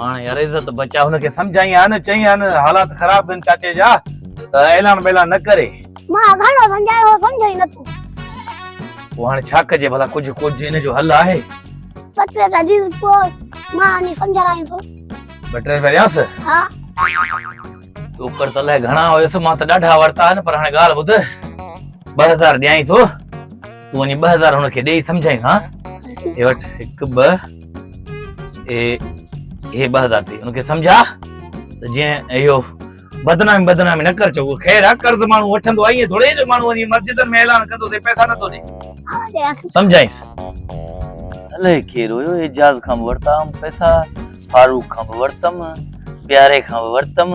هاڻ يار عزت بچا هن کي سمجهائين ها نه چئين ها نه حالات خراب ڪن چاچي جا ته اعلان بيلان نه ڪري مان گهڻو سمجهايو هو سمجهي نه ٿو پو هاڻ ڇا ڪجي ڀلا ڪجهه ڪجهه ان جو حل آهي پٽي ته عزيز پو مان ني سمجهايو ٿو بٽري ورياس ها اوپر ته لهه گهڻا هيس مان ته ڏاڍا ورتا آهن پر هاڻي ڳالهه ٻڌ ٻه هزار ڏيائين ٿو تون وڃي ٻه هزار هن کي ڏيئي سمجهائيس ها هي وٽ هڪ ٻه اي هي ٻه هزار ٿي هن کي سمجهاء ته جيئن اهو بدنامي بدنامي نه ڪر چئو خير آ قرض ماڻهو وٺندو آهي ائين ٿوري جو ماڻهو وڃي مسجدن ۾ اعلان ڪندو ته پئسا نٿو ڏي سمجهائيس الائي ڪير هيو اعجاز کان به ورتا هئم پئسا فاروق کان به ورتم پياري کان به ورتم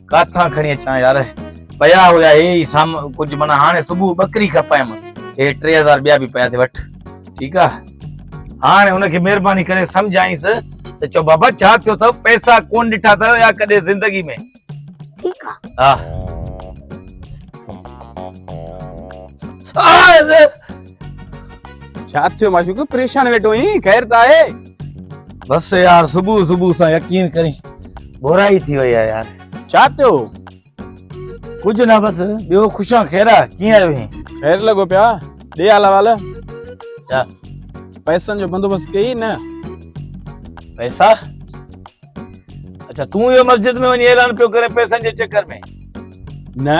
ڪاٿان کڻي اچان يار پيا هيا هي ئي سام ڪجهه معنی هاڻي صبح ٻڪري کپايم هي ٽي هزار ٻيا به پيا ٿي وٺ ٺيڪ آ هاڻي ان کي مهرباني ڪري سمجهائينس ته چو بابا ڇا ٿيو اٿو پئسا ڪون ڏٺا اٿو يا ڪڏهن زندگي ۾ ٺيڪ آ ها ڇا ٿيو معشوق پريشان ويٺو آهين خير ته آهي بس يار صبح صبح سان يقين ڪرين بورائي ٿي وئي آ يار ڇا ٿيو ڪجھ نه بس ٻيو خوشان خيرا ڪيئن آيو هين خير لڳو پيا ڏي حال حوال ڇا پئسن جو بندوبست ڪيئي نه پئسا اچھا تون اهو مسجد ۾ وڃي اعلان پيو ڪرين پئسن جي چڪر ۾ نه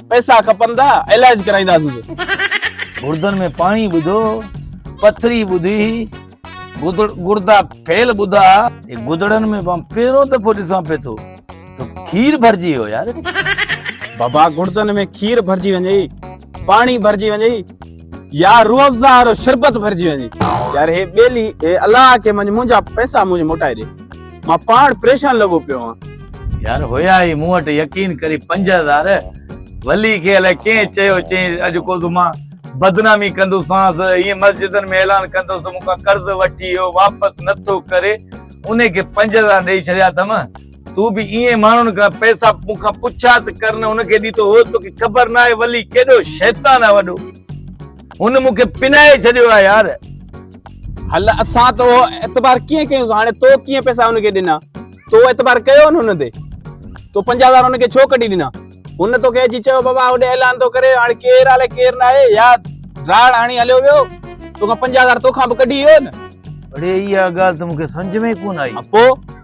پئسا کپندا علاج ڪرائينداسين گردن ۾ پاڻي ٻڌو پٿري ٻڌي گردا فيل ٻڌا گدڙن ۾ مان پهريون دفعو ڏسان پي ٿو ته کير ڀرجي ويو يار بابا گردن ۾ کير ڀرجي وڃي پاڻي ڀرجي وڃي يا روح افزا وارو شربت ڀرجي وڃي يار هي ٻيلي هي الله کي منجھ منجا پئسا منجھ موٽائي ڏي مان پاڻ پريشان لڳو پيو آهان. يار هيا هي مون وٽ يقين ڪري پنج هزار ولي کي الائي ڪنهن چيو چئين اڄ ڪو ته مان بدنامي ڪندوسانس هيئن مسجدن ۾ اعلان ڪندوس ته مون کان قرض وٺي هو واپس نٿو ڪري انهي کي پنج هزار ڏئي ڇڏيا اٿم. تون به ائين ماڻهن کان پئسا مون کان پڇا ته ڪر نه ان کي ڏيتو هو توکي خبر نه آهي ولي ڪيڏو شيطان آهي وڏو هن مون کي پنائي ڇڏيو آهي يار هل اسان تو اعتبار ڪيئن ڪيوس هاڻي تو ڪيئن پئسا ان کي ڏنا تو اعتبار ڪيو نه ان تي تو 50000 ان کي ڇو ڪڍي ڏنا هن توکي اچي چيو بابا هوڏي اعلان ٿو ڪري هاڻي ڪير آلي ڪير نه آهي يا راڙ هاڻي هليو ويو توکان 50000 توکان به ڪڍي ويو نه اڙي اها ڳالهه ته مون کي سمجھ ۾ ڪون آئي پو